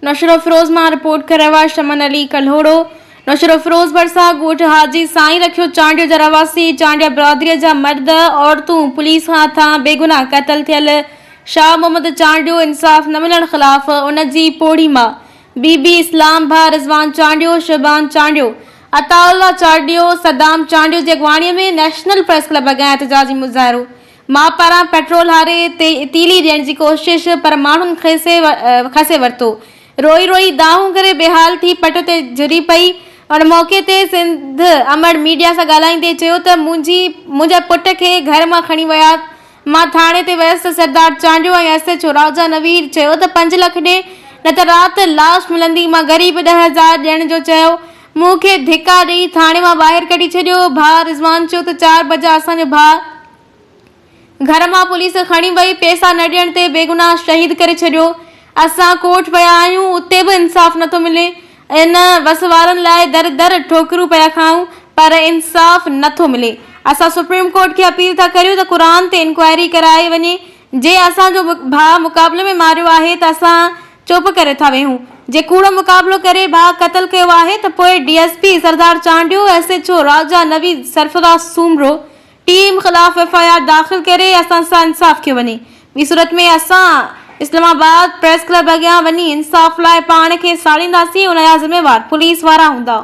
نوشهروفيروز مان رپورٽ ڪري رهيو آهي شمن علي ڪلهوڙو. نوشهروفيروز ڀرسان ڳوٺ حاجي سائين رکيو چانڊيو جا رهواسي چانڊيا برادري جا مرد عورتون پوليس هٿان بيگناهه قتل ٿيل شاهه محمد چانڊيو انصاف نه ملڻ خلاف ان جي پوڙهي مان بي بي اسلام ڀاء رضوان چانڊيو شعبان چانڊيو عطاء الله چانڊيو صدام چانڊيو جي اڳواڻي ۾ نيشنل پريس ڪلب اڳيان احتجاجي مظاهرو مان پران پيٽرول هاري تي تيلي ڏيڻ جي ڪوشش پر ماڻهن کسي کسي ورتو. روئي روئي دانهون ڪري بيحال ٿي پٽ تي جهري پئي. ان موقعي تي سنڌ امڙ ميڊيا سان ڳالهائيندي چيو ته منهنجي منهنجي پٽ کي گهر مان کڻي ويا. مان ٿاڻي تي ويس ته Sardar Chandio ۽ S H O Raja Navir چيو ته پنج لک ڏي نه ته رات لاش ملندي مان غريب ڏهه هزار ڏيڻ جو چيو مون کي ڌڪا ڏئي ٿاڻي مان ٻاهر ڪڍي ڇڏيو. ڀاء رضوان چيو ته چار بجا اسان جو ڀاء گهر مان پوليس کڻي وئي، پئسا نه ڏيڻ تي بيگناهه شهيد ڪري ڇڏيو. اسان ڪوٺ ويا آهيون، اتي به انصاف نٿو ملي. ان وس وارن لاء در در ٺوڪرون پيا کائون، پر انصاف نٿو ملي. اسان سپريم ڪورٽ کي اپيل ٿا ڪريون ته قرآن تي انڪوائري ڪرائي وڃي، جي اسان جو ڀاء مقابلي ۾ ماريو آهي ته اسان چپ ڪري ٿا ويهون، جي ڪوڙو مقابلو ڪري ڀاء قتل ڪيو آهي ته پوء D S P Sardar Chandio, S H O Raja Naveed, Sarfraz Soomro, team خلاف ايف آء آر داخل ڪري اسان سان انصاف ڪيو وڃي. ٻي صورت ۾ اسان اسلام آباد پريس ڪلب اڳيان وڃي انصاف لاء پاڻ کي ساڙينداسين، ان جا ذميوار پوليس وارا هوندا.